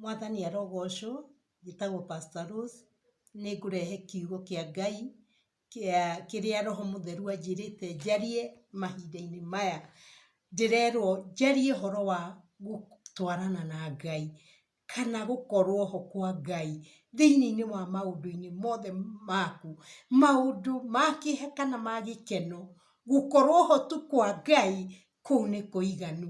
Mwathani arogocwo, njĩtagwo Pastor Rose, nĩ ngũrehe kiugo kĩa Ngai, kĩa kĩrĩa Roho Mũtheru anjĩrĩte njarie mahinda-inĩ maya, ndĩrerwo njarie ũhoro wa gũtwarana na Ngai, kana gũkorwo ho kwa Ngai, thĩiniĩ-inĩ wa maũndũ-inĩ mothe maku, maũndũ ma kĩeha kana ma gĩkeno, gũkorwo ho tu kwa Ngai, kũu nĩ kũiganu.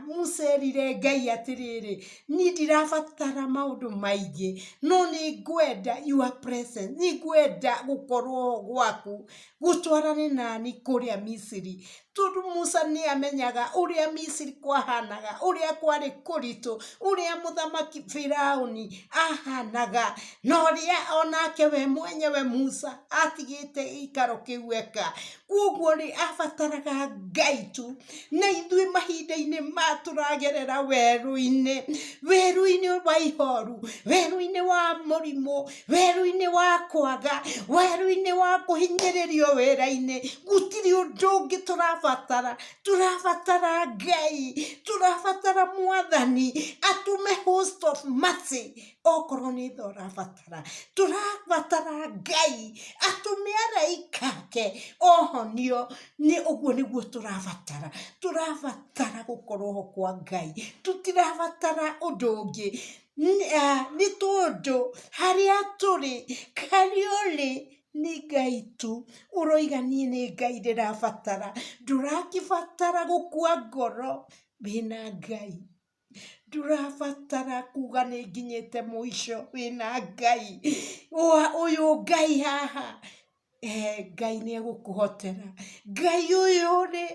Mũcerire Ngai atĩrĩrĩ, niĩ ndirabatara maũndũ maingĩ, no nĩ ngwenda your presence, nĩ ngwenda gũkorwo gwaku, gũtwarane naniĩ kũrĩa Misiri. Tondũ Musa nĩ amenyaga ũrĩa Misiri kwahanaga, ũrĩa kwarĩ kũritũ, ũrĩa mũthamaki Biraũni ahanaga, na ũrĩa onake we mwenyewe Musa atigĩte gĩikaro kĩu eka. Kwoguo rĩ, abataraga Ngai tu. Na ithuĩ mahinda-inĩ maya tũragerera werũ-inĩ, werũ-inĩ wa ihooru, werũ-inĩ wa mũrimũ, werũ-inĩ wa kwaga, werũ-inĩ wa kũhinyĩrĩrio wĩra-inĩ, gũtirĩ ũndũ ũngĩ tũrabatara. Tũrabatara Ngai, tũrabatara Mwathani atũme host of mercy, okorwo nĩ tha ũrabatara, tũrabatara Ngai atũme araika ake ohonio, nĩ ũguo nĩguo tũrabatara, tũrabatara gũkorwo ho kwa Ngai, tũtirabatara ũndũ ũngĩ, nĩ tondũ harĩa tũrĩ, harĩa ũrĩ, nĩ Ngai tu, ũroiga niĩ nĩ Ngai ndĩrabatara, ndũragĩbatara gũkua ngoro wĩna Ngai. Ndũrabatara kuga nĩ nginyĩte mũico wĩna Ngai. Ũyũ Ngai haha, eeh Ngai nĩ egũkũhotera. Ngai ũyũ rĩ,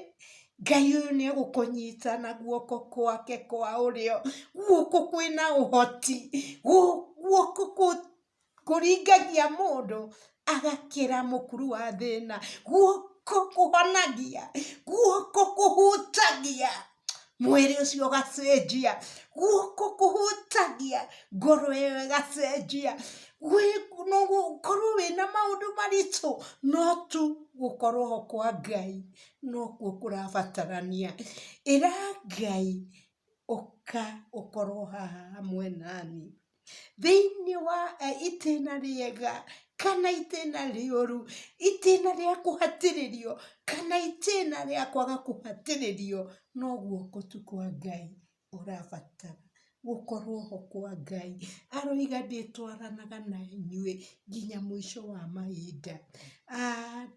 Ngai ũyũ nĩ egũkũnyita na guoko gwake kwa ũrĩo, guoko kwĩna ũhoti, guoko kũ... Kũringagia mũndũ agakĩra mũkuru wa thĩna, guoko kũhonagia, guoko kũhutagia, mwĩrĩ ũcio ũgacenjia, guoko kũhutagia, ngoro ĩyo ĩgacenjia, gũkorwo wĩna maũndũ maritũ, no tu gũkorwo ho kwa Ngai nokuo kũrabatarania. Ĩra Ngai ũka ũkorwo haha hamwe naniĩ. thĩinĩ wa itĩna rĩega kana itĩna rĩũru, itĩna rĩa kũhatĩrĩrio kana itĩna rĩa kwaga kũhatĩrĩrio, no guoko tu kwa Ngai ũrabatara. Gũkorwo ho kwa Ngai aroiga ndĩtwaranaga na inyuĩ, nginya mũico wa mahinda.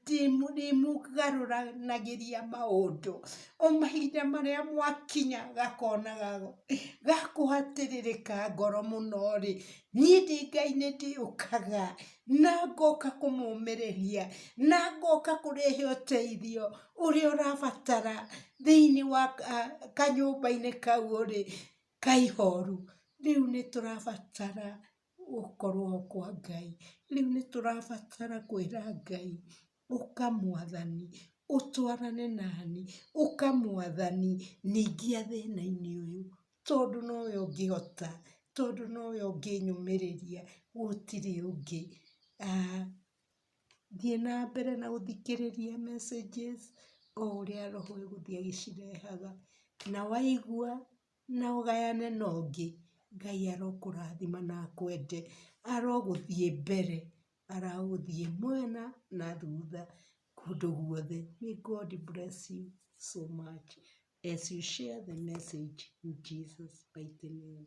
Ndĩmũgarũranagĩria maũndũ, o mahinda marĩa mwakinya gakona ga kũhatĩrĩrĩka ngoro mũno rĩ, niĩ ndĩ Ngai nĩ ndĩũkaga na ngoka kũmũmĩrĩria, na ngoka kũrehe ũteithio ũrĩa ũrabatara thĩiniĩ wa kanyũmba-inĩ kau ũrĩ, ka ihoru. Rĩu nĩ tũrabatara gũkorwo kwa Ngai. Rĩu nĩ tũrabatara kwĩra Ngai, ũka mwathani, ũtwarane nani, ũka mwathani, ndeithia thĩna-inĩ ũyũ, tondũ nowe ũngĩhota, tondũ nowe ũngĩnyũmĩrĩria, gũtirĩ ũngĩ. Thiĩ na mbere na gũthikĩrĩria messages o ũrĩa roho egũthiĩ agĩcirehaga, na waigua... na ũgayane na ũngĩ, Ngai arokũrathima na akwende, arogũthiĩ mbere, aragũthiĩ mwena na thutha, kũndũ guothe, may God bless you so much as you share the message in Jesus mighty name.